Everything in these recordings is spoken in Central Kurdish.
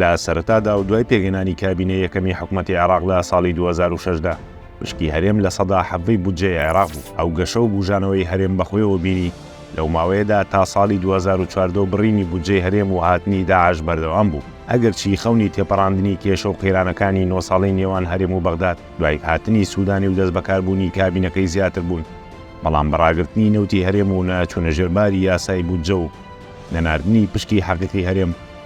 لە سەرەتادا و دوای پێکهێنانی کابینەی یەکەمی حکومەتی عێراق لە ساڵی دوو هەزار و شەش دا، مشکی هەرێم لە سەدا حەڤدەی بودجەی عێراق بوو، ئەو گەشە و بووژانەوەی هەرێم بەخۆیەوە بینی لەو ماوەیەدا تا ساڵی دوو هەزار و چواردە و بڕینی بودجەی هەرێم و هاتنی داعش بەردەوام بوو، ئەگەرچی خەونی تێپەڕاندنی کێشە و قەیرانەکانی نۆ ساڵەی نێوان هەرێم و بەغداد دوای هاتنی سودانی و دەستبەکاربوونی کابینەکەی زیاتر بوون، بەڵام بە ڕاگرتنی نەوتی هەرێم و نەچوونە ژێر باری یاسای بودجە و نەناردنی پشکی حەقیقی هەرێم،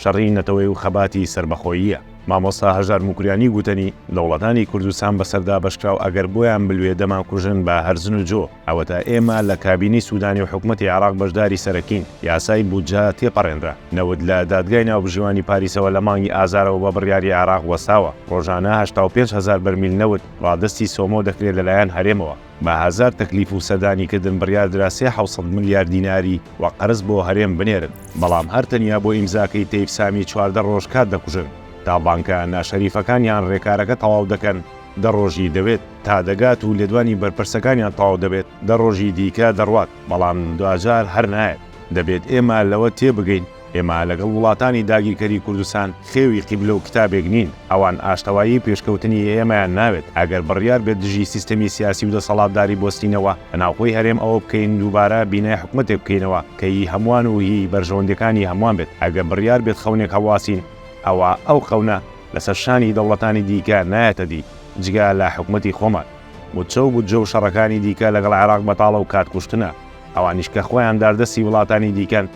شەڕی نەتەوەی و خەباتی سەربەخۆییە. مامۆستا هەژار موکریانی گوتەنی، دەوڵەتانی کوردستان بەسەر دابەشکراو ئەگەر بۆیان بلوێ دەمانکوژن بە هەرزن و جۆ، ئەوەتا ئێمە لە کابینەی سودانی و حکومەتی عێراق بەشداری سەرەکین، یاسای بودجە تێپەڕێنرا، نەوت لە دادگای ناوبژیوانی پاریسەوە لە مانگی ئازارەوە بە بڕیاری عێراق وەستاوە، ڕۆژانە هەشتا و پێنج هەزار بەرمیل نەوت ڕادەستی سۆمۆ دەکرێت لەلایەن هەرێمەوە. بە هەزار تەکلیف و سەردانی کردن بڕیار درا سێ حەوت سەد ملیار دیناری وەک قەرز بۆ هەرێم بنێرن، بەڵام هەر تەنیا بۆ ئیمزاکەی تەیف سامی چواردە ڕۆژ کات دەکوژن، تا بانکە ناشەریفەکان یان ڕێکارەکە تەواو دەکەن دە ڕۆژی دەوێت تا دەگات و لێدوانی بەرپرسەکانیان تەواو دەبێت دە ڕۆژی دیکە دەڕوات، بەڵام دواجار هەر نایەت، دەبێت ئێمە لەوە تێبگەین، ئێمە لەگەڵ وڵاتانی داگیرکەری کوردستان خێوی قیبلە و کتابێک نین، ئەوان ئاشتەوایی و پێشکەوتنی ئێمەیان ناوێت، ئەگەر بڕیار بێت دژی سیستەمی سیاسی و دەسەڵاتداری بۆستینەوە لە ناوخۆی هەرێم ئەوە بکەین دووبارە بینای حکومەتێک بکەینەوە کە هی هەموان و هی بەرژەوەندیەکانی هەموان بێت، ئەگەر بڕیار بێت خەونێک هەڵواسین ئەوا ئەو خەونە لەسەر شانی دەوڵەتانی دیکە نایەتە دی جگە لە حکومەتی خۆمان. موچە و بودجە و شەڕەکانی دیکە لەگەڵ عێراق بەتاڵە و کات کوشتنە. ئەوانیش کە خۆیان داردەستی وڵاتانی دیکەن،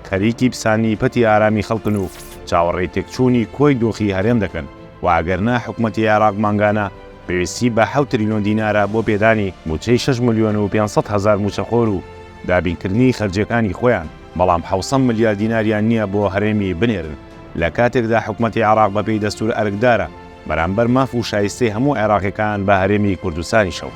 خەریکی پساننی پەتی ئارامی خەڵکن و چاوەڕێی تێکچوونی کۆی دۆخی هەرێم دەکەن و ئەگەرنا حکومەتی عێراق مانگانە پێویستی بە حەوت تریلیۆن دینارە بۆ پێدانی مووچەی شەش ملیۆن و پێنج سەد هەزار مووچەخۆر و دابینکردنی خەرجییەکانی خۆیان، بەڵام حەوسەد ملیار دیناریان نییە بۆ هەرێمی بنێرن، لە کاتێکدا حکومەتی عێراق بەپێی دەستوور ئەرکدارە. بەرامبەر ماف و شایستەی هەموو عێراقیەکان بە هەرێمی کوردستانیشەوە.